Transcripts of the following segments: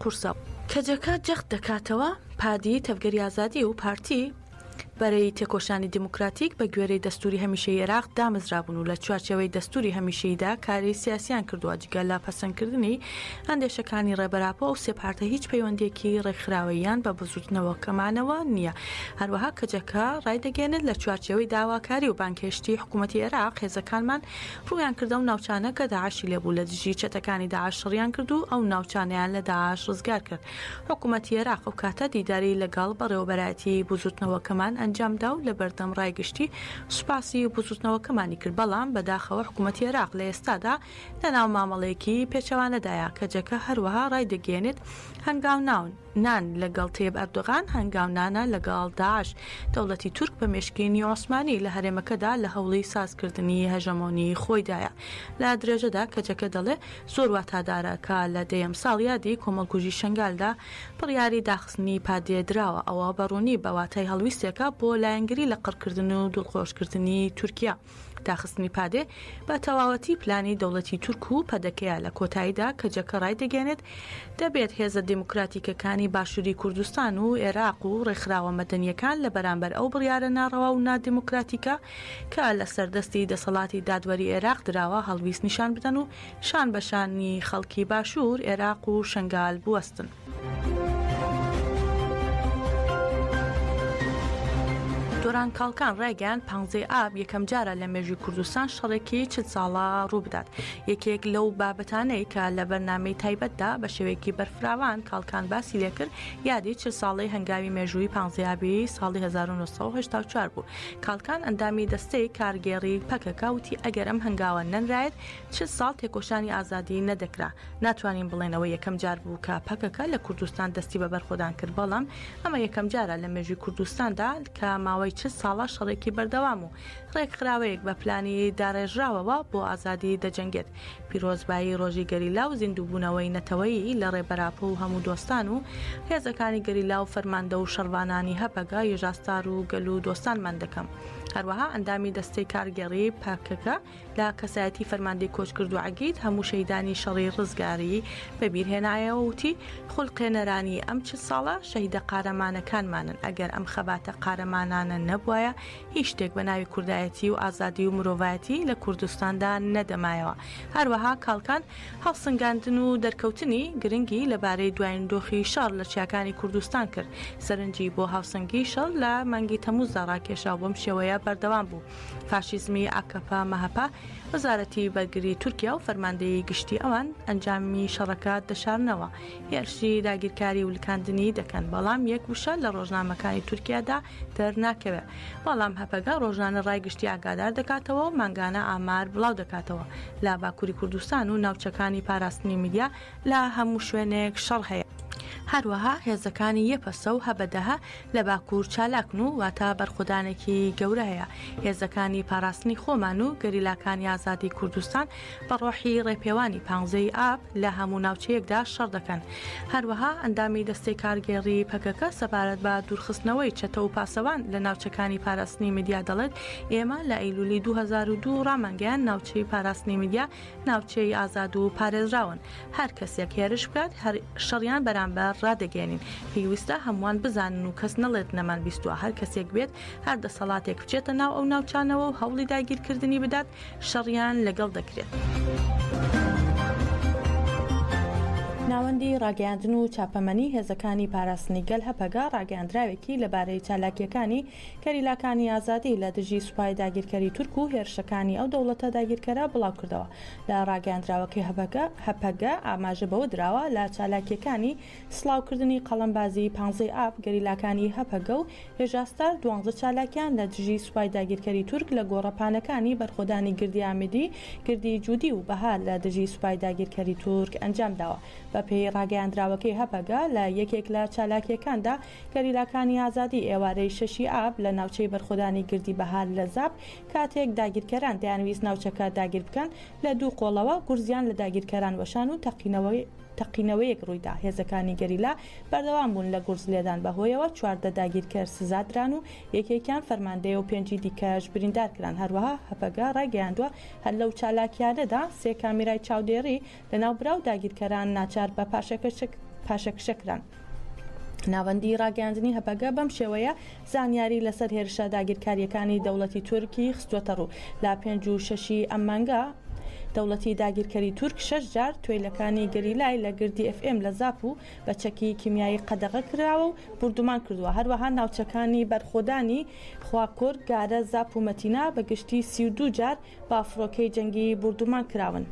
قورسە. کەجەکە جەخت دەکاتەوە، پادیی تەڤگەری ئازادی و پارتی، بەرەی تێکۆشانی دیموکراتیک، بە گوێرەی دەستووری هەمیشەیی عێراق دامەزرابوون و لە چوارچێوەی دەستووری هەمیشەییدا کاری سیاسییان کردووە، جگە لە پەسەندکردنی ئەندێشەکانی ڕێبەر ئاپۆ، ئەو سێ پارتە هیچ پەیوەندییەکی ڕێکخراوەییان بە بزووتنەوەکەمانەوە نییە. هەروەها کەجەکە ڕایدەگەیەنێت، لە چوارچێوەی داواکاری و بانگهێشتی حکوومەتی عێراق، هێزەکانمان ڕوویان کردە ئەو ناوچانە کە داعشی لێبوو لە دژی چەتەکانی داعش شەڕیان کرد و ئەو ناوچانەیان لە داعش ڕزگار کرد حکومەتی عێراق ئەو کاتە دیداری لەگەڵ بەڕێوەبەرایەتی بزوتنەوەکەمان ئەنجامدا و لەبەردەم ڕای گشتی سوپاسی بزوتنەوەکەمانی کرد بەڵام بەداخەوە حکومەتی عێراق لە ئێستادا لەناو مامەڵەیەکی پێچەوانەدایە کەجەکە هەروەها ڕایدەگەیەنێت هەنگاوناون نان لە گەڵ تەیب ئەردۆغان هەنگاو نانە لە گەڵ داعش. دەوڵەتی تورک بە مێشکینی عوسمانی لە هەرێمەکەدا لە هەوڵی ساز کردنی هەژەمۆنی خۆیدایە. لە درێژەدا کەجەکە دەڵێ زۆر واتادارە کە لە دەیەم ساڵیادی کۆمەڵکوژی شەنگالدا بڕیاری داخستنی پادێ دراوە. ئەوە بە ڕوونی بە واتای هەڵویستێکە بۆ لایەنگری لە قڕکردن و دڵخۆش کردنی تورکیا. داخستنی پادێ بە تەواوەتی پلانی دەوڵەتی تورک و پەدەکەیە لە کۆتاییدا کەجەکە ڕایدەگەێنێت دەبێت هێزە دیموکراتیکەکانی باشووری کوردستان و ئێراق و ڕێکخراوە مەدەنیەکان لە بەرامبەر ئەو بڕیارە ناڕەوا و نادیموکراتیکە کە لە سەردەستی دەسەڵاتی دادوەری ئێراق دراوە هەڵویست نیشان بدەن و شان بەشانی خەڵکی باشوور، ئێراق و شەنگال بوەستن. دۆران کاڵکان ڕایگەیان پانزەی ئاب یەکەم جارە لە مێژوی کوردستان شەڕێکی چ ساڵە ڕووبدات یەکێک لەو بابەتانەی کە لە بەرنمەی تایبەتدا بە شێوەیەکی بەرفراوان کاڵکان باسی لێکرد یادی چ ساڵی هەنگاوی مێژووی پانزیابی ساڵی 1970 بوو کاڵکان ئەندامی دەستەی کارگێڕی پەکەکە وتی ئەگەرم هەنگاوە نەنرایەت چ ساڵ تێکۆشانی ئازادی نەدەکرا ناتوانین بڵێن ئەوە یەکەم جار بوو کە پەکەکە لە کوردستان دەستی بە بەرخۆدان کرد، بەڵام ئەمە یەکەم جارە لە مێژووی کوردستاندا کە ماوەی چل ساڵە شەڕێکی بەردەوام و ڕێکخراوەیەک بە پلانی داڕێژراوەوە بۆ ئازادی دەجەنگێت. پیرۆزبایی ڕۆژی گەریلا و زیندووبوونەوەی نەتەوەیی لە ڕێبەر ئاپۆ و هەموو دۆستان و هێزەکانی گەریلا و فەرماندە و شەڕڤانانی هەپەگە، یژاستار و گەل و دۆستانمان دەکەم. هەروەها ئەندامی دەستەی کارگێڕیی پەکەکە، لە کەسایەتی فەرماندەی کۆچکردوو عەگید هەموو شەهیدانی شەڕی ڕزگاریی بەبیرهێنایەوە و وتی، خولقێنەرانی ئەم چل ساڵە، شەهیدە قارەمانەکانمانن، ئەگەر ئەم خەباتە قارەمانانە نەبوایە، هیچ شتێک بە ناوی کوردایەتی و ئازادی و مرۆڤایەتی لە کوردستاندا نەدەمایەوە. هەروەها کاڵکان، هەڵسنگاندن و دەرکەوتنی گرنگی لەبارەی دوایین دۆخی شەڕ لە چیاکانی کوردستان کرد، سەرنجی بۆ هاوسەنگیی شەڕ لە مانگی تەمووزدا ڕاکێشا و بەم شێوەیە بەردەوام بوو. فاشیزمی ئاکەپە، مەهەپە، وەزارەتی بەرگری تورکیا و فەرماندەیی گشتی ئەوان ئەنجامی شەڕەکە دەشارنەوە، هێرشی داگیرکاری و لکاندنی دەکەن، بەڵام یەک وشە لە ڕۆژنامەکانی تورکیادا دەرناکەوێ، بەڵام هەپەگە ڕۆژانە ڕای گشتی ئاگادار دەکاتەوە و مانگانە ئامار بڵاودەکاتەوە لە باکوری کوردستان و ناوچەکانی پاراستنی میدیا لە هەموو شوێنێک شەڕ هەیە. هەروەها هێزەکانی یەپەسە و هەبەدەهە لە باکوور چالاکن و واتە بەرخۆدانێکی گەورە هەیە. هێزەکانی پاراستنی خۆمان و گەریلاکانی ئازادی کوردستان بە ڕۆحی ڕێپێوانی پانزەی ئاب لە هەموو ناوچەیەکدا شەڕ دەکەن. هەروەها ئەندامی دەستەی کارگێڕیی پەکەکە سەبارەت بە دوورخستنەوەی چەتە و پاسەوان لە ناوچەکانی پاراستنی مەدیا دەڵێت، ئێمە لە ئەیلوولی دوو هەزار و دوو ڕامانگەیاند ناوچەی پاراستنی مەدیا ناوچەی ئازاد و پارێزراون هەر کەسێک هێرش بکات شەڕیان بەرامبەر ڕادەگەێنین پێویستە هەمووان بزانن و کەس نەڵێت نەمان بیستوە هەر کەسێک بێت هەر دەسەڵاتێک بچێتە ناو ئەو ناوچانەوە و هەوڵی داگیرکردنی بدات شەڕیان لەگەڵ دەکرێت. ناوەندی ڕاگەیاندن و چاپەمەنی هێزەکانی پاراستنی گەل هەپەگە ڕاگەیاندراوێکی لەبارەی چالاکیەکانی گەریلاکانی ئازادی لە دژی سوپای داگیرکەری تورک و هێرشەکانی ئەو دەوڵەتە داگیرکەرە بڵاوکردەوە. لە ڕاگەیاندراوەکەی هەپەگە، هەپەگە، ئاماژە بەوە دراوە، لە چالاکییەکانی سڵاوکردنی قەڵەمبازیی پانزەی ئاب، گەریلاکانی هەپەگە و هێژاستار دوانزە چالاکیان لە دژی سوپای داگیرکەری تورک لە گۆڕەپانەکانی بەرخۆدانی گردی ئامێدی، گردی جودی و بەهار لە دژی سوپای داگیرکەری تورک ئەنجامداوە. بەپێی ڕاگەیاندراوەکەی هەپەگە، لە یەکێک لە چالاکییەکاندا، گەریلاکانی ئازادی ئێوارەی شەشی ئاب لە ناوچەی بەرخۆدانی گردی بەهار لە زاپ کاتێک داگیرکەران دەیانویست ناوچەکە داگیر بکەن لە دوو قۆڵەوە گورزیان لە داگیرکەران وەشان و تەقینەوەی تەقینەوەیەک ڕوویدا هێزەکانی گەریلا بەردەوام بوون لە گورز لێدان بەهۆیەوە چواردە داگیرکەر سزادران و یەکێکیان فەرماندەیە و پێنجی دیکەش بریندارکران هەروەها هەپەگە ڕایگەیاندووە هەر لەو چالاکییانەدا سێ کامیرای چاودێڕی لە ناوبراو داگیرکەران ناچار بە پاشەکشە کران. ناوەندی ڕاگەیاندنی هەپەگە بەم شێوەیە زانیاری لەسەر هێرشە داگیرکاریەکانی دەوڵەتی تورکی خستوەتە ڕوو لە پێنج و شەشی ئەم مانگە دەوڵەتی داگیرکەری تورک شەش جار توێلەکانی گەریلای لە گردی FM لە زاپ و بە چەکی کیمیایی قەدەغە کراوە و بردومان کردووە هەروەها ناوچەکانی بەرخۆدانی خواکۆر گارە زاپ و مەتینا بە گشتی سی و دوو جار با فڕۆکەی جەنگی بوردومان کراون.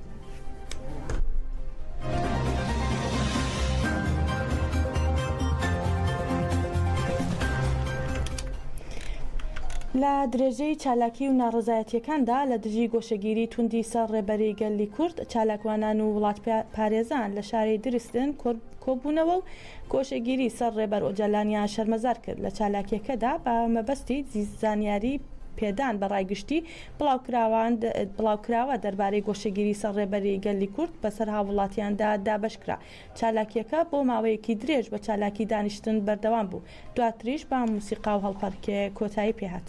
لە درێژەی چالاکی و ناڕەزایەتیەکاندا لە دژی گۆشەگیری توندی سەر ڕێبەری گەلی کورد چالاکوانان و وڵات پارێزان لە شاری درستن کۆبوونەوە و گۆشەگیری سەر ڕێبەر ئۆجالانیان شەرمەزار کرد لە چالاکیەکەدا بە مەبەستی زانیاری پێدان بە ڕایگشتی بڵاوکراوە دەربارەی گۆشەگیری سەر ڕێبەری گەلی کورد بەسەر هاووڵاتیاندا دابەشکرا، چالاکییەکە بۆ ماوەیەکی درێژ بە چالاکی دانیشتن بەردەوام بوو، دواتریش بە موسیقا و هەڵپەڕکێ کۆتایی پێهات.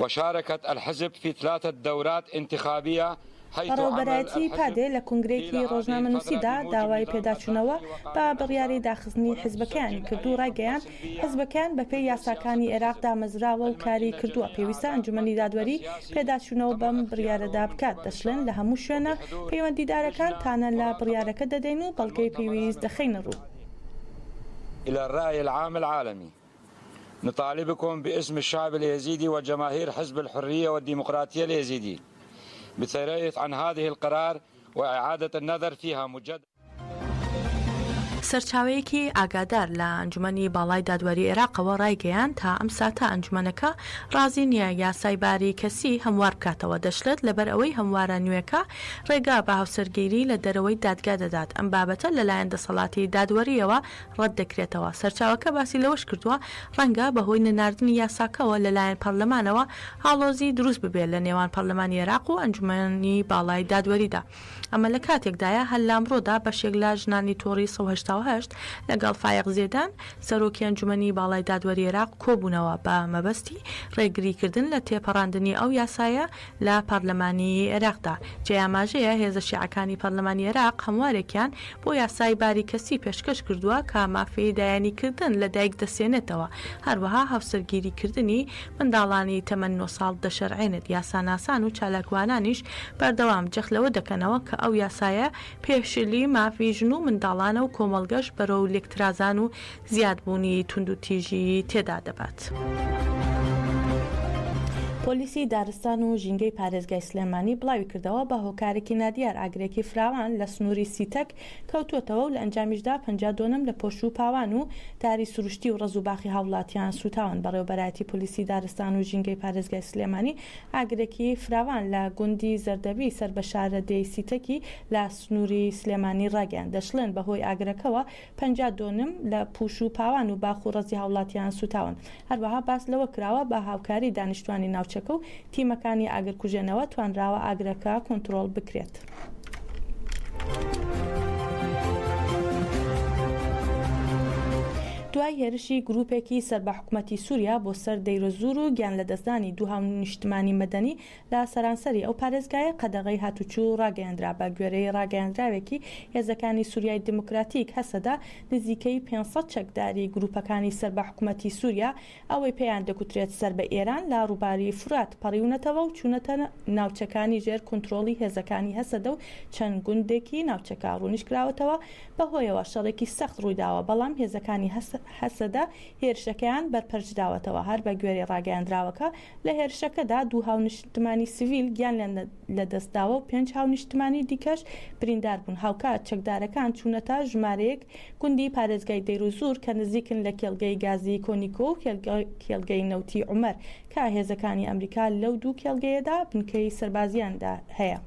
وشارکت الحزب فی تلاتە دورات انتخابیە حیث عمل الحزب فی العادی فترە. بەڕێوەبەرایەتیی پادێ لە کونگرەیەکی ڕۆژنامەنووسیدا داوای پێداچوونەوە بە بڕیاری داخستنی حزبەکەیانی کرد و ڕایگەیاند، حزبەکەیان بەپێی یاساکانی ئێراق دامەزراوە و کاری کردووە، پێویستە ئەنجومەنی دادوەری پێداچوونەوە بەم بڕیارەدا بکات، دەشڵێن لە هەموو شوێنە پەیوەندیدارەکان تانە لە بڕیارەکە دەدەین و بەڵگەی پێویست دەخەینە ڕوو. الرای العام العالمی. نطالبکم باسم الشعب الایزیدی وجماهیر حزب الحریە والدیموقراطیە الایزیدی بترایث عن هذه القرار واعادت النظر فیها مجددا. سەرچاوەیەکی ئاگادار لە ئەنجومەنی باڵای دادوەری عێراقەوە ڕایگەیاند، تا ئەم ساتە ئەنجومەنەکە ڕازی نییە یاسای باری کەسی هەموار بکاتەوە، دەشڵێت، لەبەر ئەوەی هەموارە نوێکە ڕێگا بە هاوسەرگیری لە دەرەوەی دادگا دەدات، ئەم بابەتە لەلایەن دەسەڵاتی دادوەرییەوە ڕەت دەکرێتەوە. سەرچاوەکە باسی لەوەش کردووە، ڕەنگە بەهۆی نەناردنی یاساکەوە لەلایەن پەرلەمانەوە ئاڵۆزی دروست ببێت لە نێوان پەرلەمانی عێراق و ئەنجومەنی باڵای دادوەریدا. ئەمە لە کاتێکدایە هەر لامڕۆدا بەشێک لە ژنانی تۆڕی سەد و هەشتا و هەشت لەگەڵ فایەق زێدان، سەرۆکی ئەنجومەنی باڵای دادوەری عێراق کۆبوونەوە بە مەبەستی ڕێگریکردن لە تێپەڕاندنی ئەو یاسایە لە پارلمانی عێراقدا، جێی ئاماژەیە هێزە شیعەکانی پارلمانی عێراق هەموارێکیان بۆ یاسای باری کەسی پێشکەش کردووە کە مافی لایەنیکردن لە دایک دەسێنێتەوە، هەروەها هاوسەرگیریکردنی منداڵانی تەمەن نۆ ساڵ دەشەرعێنێت، یاساناسان و چالاکوانانیش بەردەوام جەخت لەوە دەکەنەوە کە ئەو یاسایە پێشێلی مافی ژن و منداڵانە و کۆمەڵگەش بەرەو لێکترازان و زیادبوونی توندوتیژیی تێدا دەبات. پۆلیسی دارستان و ژینگەی پارێزگای سلێمانی بڵاویکردەوە، بە هۆکارێکی نادیار ئاگرێکی فراوان لە سنووری سیتەک کەوتووەتەوە و لە ئەنجامیشدا پەنجا دۆنم لە پۆش و پاوان و داری سروشتی و ڕەز و باخی هاووڵاتیان سووتاون. بەڕێوەبەرایەتی پۆلیسی دارستان و ژینگەی پارێزگای سلێمانی ئاگرێکی فراوان لە گوندی زەردەڤی سەر بە شارەدێی سیتەکی لە سنووری سلێمانی ڕاگەیاند، دەشڵێن بەهۆی ئاگرەکەوە پەنجا دۆنم لە پوش و پاوان و باخ و ڕەزی هاوڵاتیان سوتاون. هەروەها باس لەوە کراوە، بە هاوکاری دانیشتوانی ناوچەکە و تیمەکانی ئاگرکوژێنەوە توانراوە ئاگرەکە کۆنترۆڵ بکرێت. دوای هێرشی گروپێکی سەر بە حکومەتی سوریا بۆ سەر دەیرۆزور و گیانلەدەستدانی دوو هاونیشتمانی مەدەنی لە سەرانسەری ئەو پارێزگایە قەدەغەی هاتووچوو ڕاگەیەندرا، بە گوێرەی ڕاگەیەندراوێکی هێزەکانی سوریای دیموکراتیک، هەسەدە نزیکەی پێنج سەد چەکداری گرووپەکانی سەر بە حکومەتی سوریا ئەوەی پێیان دەگوترێت سەر بە ئێران لە ڕووباری فورات پەڕیونەتەوە و چوونەتە ناوچەکانی ژێر کونترۆڵی هێزەکانی هەسەدە و چەند گوندێکی ناوچەکە ڕوونیشکراوەتەوە بەهۆیەوە شەڕێکی سەخت ڕوویداوە بەڵام هێزەکانی هەسەدە هێرشەکەیان بەرپەرچداوەتەوە هەر بە گوێرەی ڕاگەیەندراوەکە لە هێرشەکەدا دوو هاونیشتمانی سڤیل گیانیان لەدەستداوە و پێنج هاونیشتمانی دیکەش بریندار بوون، هاوکات چەکدارەکان چوونەتە ژمارەیەک گوندی پارێزگای دەیرۆزوور کە نزیکن لە کێڵگەی گازیی کۆنیکۆ و کێڵگەی نەوتی عومەر کە هێزەکانی ئەمریکا لەو دوو کێڵگەیەدا بنکەی سەربازییان هەیە.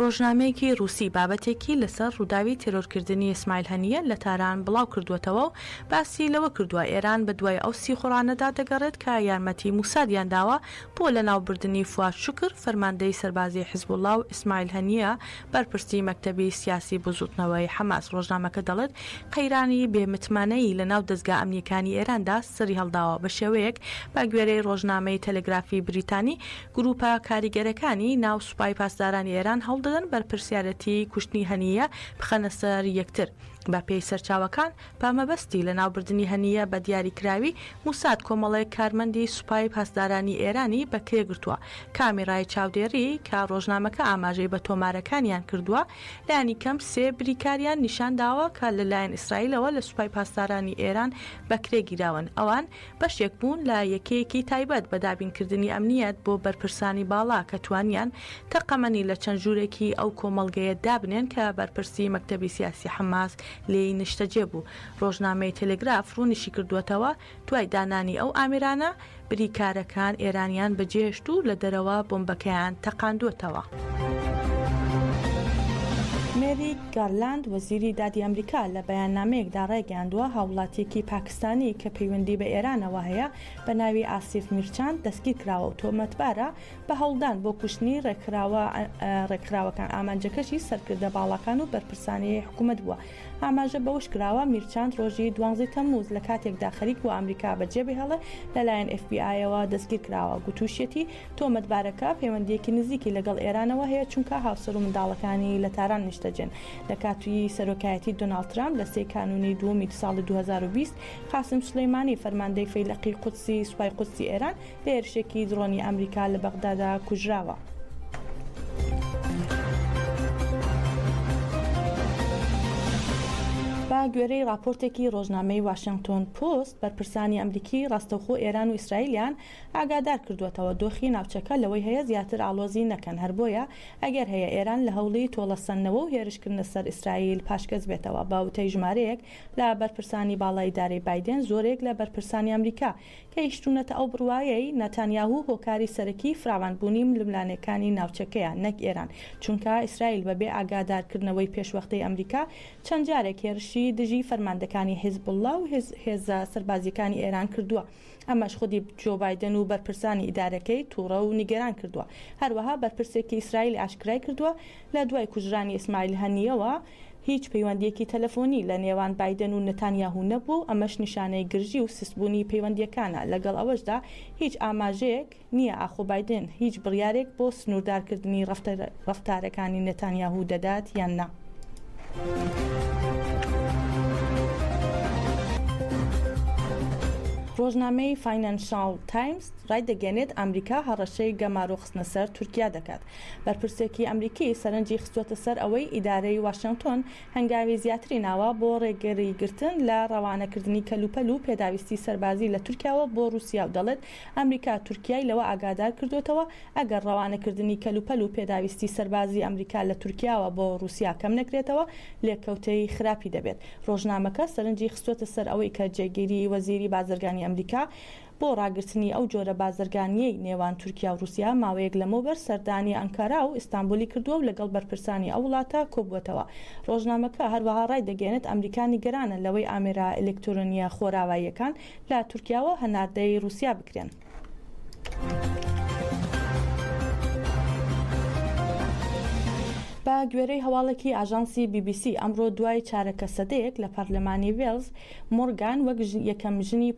ڕۆژنامەیەکی ڕووسی بابەتێکی لەسەر ڕووداوی تێرۆرکردنی ئیسماعیل هەنییە لە تاران بڵاوکردووەتەوە و باسی لەوە کردووە، ئێران بە دوای ئەو سیخوڕانەدا دەگەڕێت کە یارمەتیی موسادیان داوە بۆ لەناوبردنی فواد شوکر، فەرماندەی سەربازیی حزبوڵڵا و ئیسماعیل هەنییە، بەرپرسی مەکتەبی سیاسی بزووتنەوەی حەماس. ڕۆژنامەکە دەڵێت، قەیرانی بێ متمانەیی لەناو دەزگا ئەمنییەکانی ئێراندا سەریهەڵداوە، بە شێوەیەک بە گوێرەی ڕۆژنامەی تەلەگرافی بریتانی، گرووپە کاریگەرەکانی ناو سوپای پاسدارانی ئێران هەوڵ دەدەن بەرپرسیارێتیی کوشتنی هەنییە بخەنە سەر یەکتر. بەپێی سەرچاوەکان، بە مەبەستی لەناوبردنی هەنییە بە دیاریکراوی، موساد کۆمەڵێک کارمەندی سوپای پاسدارانی ئێرانی بەکرێگرتووە، کامیڕای چاودێری، کە ڕۆژنامەکە ئاماژەی بە تۆمارەکانیان کردووە، لانیکەم سێ بریکاریان نیشانداوە کە لەلایەن ئیسرائیلەوە لە سوپای پاسدارانی ئێران بەکرێگیراون، ئەوان. بەشێک بوون لە یەکەیەکی تایبەت بە دابینکردنی ئەمنییەت بۆ بەرپرسانی باڵا کە توانیان تەقەمەنی لە چەند ژوورێکی ئەو کۆمەڵگەیە دابنێن کە بەرپرسی مەکتەبی سیاسی حەماس لێی نیشتەجێ بوو. ڕۆژنامەی تێلێگراف ڕوونیشیکردووەتەوە، دوای دانانی ئەو ئامێرانە، بریکارەکان ئێرانیان بەجێهێشت و لە دەرەوە بۆمبەکەیان تەقاندووەتەوە. مێریک گارلاند، وەزیری دادی ئەمریکا لە بەیاننامەیەکدا ڕایگەیاندووە، هاووڵاتییەکی پاکستانی، ستانی کە پەیوەندی بە ئێرانەوە هەیە بە ناوی ئاسیف میرچان دەستگیرکراوە و تۆمەتبارە بە هەوڵدان بۆ کوشتنی ڕێکخراوە ڕێکخراوەکان ئامانجەکەشی سەرکردە باڵاکان و بەرپرسانی حکومەت بووە ئاماژە بەوەشکراوە میرچان ڕۆژی دوانزەی تەمموز لە کاتێکدا خەریک بووە ئەمریکا بەجێبهێڵێ لەلایەن ئێف بی ئایەوە دەستگیرکراوە گوتوشیەتی تۆمەتبارەکە پەیوەندییەکی نزیکی لەگەڵ ئێرانەوە هەیە، چونکە هاوسەر و منداڵەکانی لە تاران نیشتەجێن. لە کاتی سەرۆکایەتی دۆناڵد ترامپ لە سێی کانوونی دووەمی ساڵی دوو هەزار و بیست، قاسم سولەیمانی فەرماندەی فەیلەقی قودسی سوپای قودسی ئێران لە هێرشێکی دڕۆنی ئەمریکا لە بەغدادا کوژراوە. بە گوێرەی ڕاپۆرتێکی ڕۆژنامەی واشێنگتۆن پۆست، بەرپرسانی ئەمریکی ڕاستەوخۆ ئێران و ئیسرائیلیان ئاگادار کردووەتەوە دۆخی ناوچەکە لەوەی هەیە زیاتر ئاڵۆزی نەکەن، هەر بۆیە ئەگەر هەیە ئێران لە هەوڵی تۆڵەسەندنەوە و هێرشکردنە سەر ئیسرائیل پاشگەز بێتەوە. بە وتەی ژمارەیەک لە بەرپرسانی باڵای ئیدارەی بایدێن، زۆرێک لە بەرپرسانی ئەمریکا گەیشتوونەتە ئەو بڕوایەی ناتانیاهو هۆکاری سەرەکیی فراوانبوونی ململانێکانی ناوچەکەیە نەک ئێران، چونکە ئیسرائیل بەبێ ئاگادارکردنەوەی پێشوەختەی ئەمریکا چەند جارێک هێرشی دژی فەرماندەکانی حیزبوڵڵا و هێزە سەربازییەکانی ئێران کردووە. ئەمەش خودی جۆ بایدن و بەرپرسانی ئیدارەکەی تووڕە و نیگەران کردووە. هەروەها بەرپرسێکی ئیسرائیل ئاشکرای کردووە، لە دوای کوژرانی ئیسماعیل هەنییەوە هیچ پەیوەندییەکی تەلەفۆنی لە نێوان بایدن و نەتانیاهو نەبووە و ئەمەش نیشانەی گرژی و سستبوونی پەیوەندییەکانە، لەگەڵ ئەوەشدا هیچ ئاماژەیەک نییە ئاخۆ بایدن هیچ بڕیارێک بۆ سنووردارکردنی ڕەفتارەکانی نەتانیاهوو دەدات یان نا. ڕۆژنامەی فاینانشاڵ تایمز ڕایدەگەیەنێت ئەمریکا هەڕەشەی گەمارۆ خستنە سەر تورکیا دەکات. بەرپرسێکی ئەمریکی سەرنجی خستووەتە سەر ئەوەی ئیدارەی واشێنگتۆن هەنگاوی زیاتری ناوە بۆ ڕێگریگرتن لە ڕەوانەکردنی کەلوپەل و پێداویستی سەربازی لە تورکیاوە بۆ ڕووسیا و دەڵێت ئەمریکا تورکیای لەوە ئاگادار کردووەتەوە، ئەگەر ڕەوانەکردنی کەلوپەل و پێداویستی سەربازی ئەمریکا لە تورکیاوە بۆ ڕووسیا کەم نەکرێتەوە، لێکەوتەی خراپی دەبێت. ڕۆژنامەکە سەرنجی خستووەتە سەر ئەوەی کە جێگیری وەزیری بازرگانی ئەمریکا بۆ ڕاگرتنی ئەو جۆرە بازرگانییەی نێوان تورکیا و ڕووسیا ماوەیەک لەمەوبەر سەردانی ئانکارا و ئیستانبولی کردووە و لەگەڵ بەرپرسانی ئەو وڵاتە کۆبووەتەوە. ڕۆژنامەکە هەروەها ڕایدەگەیەنێت ئەمریکا نیگەرانە لەوەی ئامێرە ئەلیکترۆنییە خۆراواییەکان لە تورکیاوە هەناردەی روسیا بکرێن. بە گوێرەی هەواڵێکی ئاژانسی بی بی سی ئەمڕۆ دوای چارەکە سەدەیەک لە پەرلەمانی وێلز مۆرگان وەک یەکەم ژنی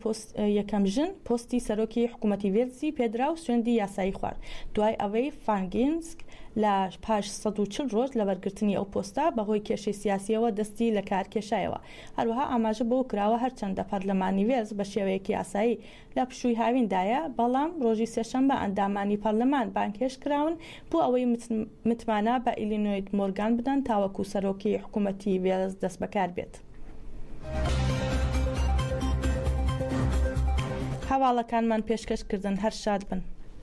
یەکەم ژن پۆستی سەرۆکی حکوومەتی وێلزی پێدرا و سوێندی یاسایی خوارد دوای ئەوەی فانگینسک لە پاش 140 ڕۆژ لە بەرگرتنی ئەو پۆستە بەهۆی کێشەی سیاسیەوە دەستی لە کار کێشایەوە هەروەها ئاماژە بەوە کراوە، هەرچەندە پەرلەمانی وێلز بە شێوەیەکی یاسایی لە پشووی هاویندایە، بەڵام ڕۆژی سێشەممە ئەندامانی پەرلەمان بانگهێشت کراون بۆ ئەوەی متمانە بە ئیلینۆید مۆرگان بدەن تاوەکو سەرۆکی حکوومەتی وێلز دەستبەکار بێت. هەواڵەکانمان پێشکەش کردن هەر شاد بن.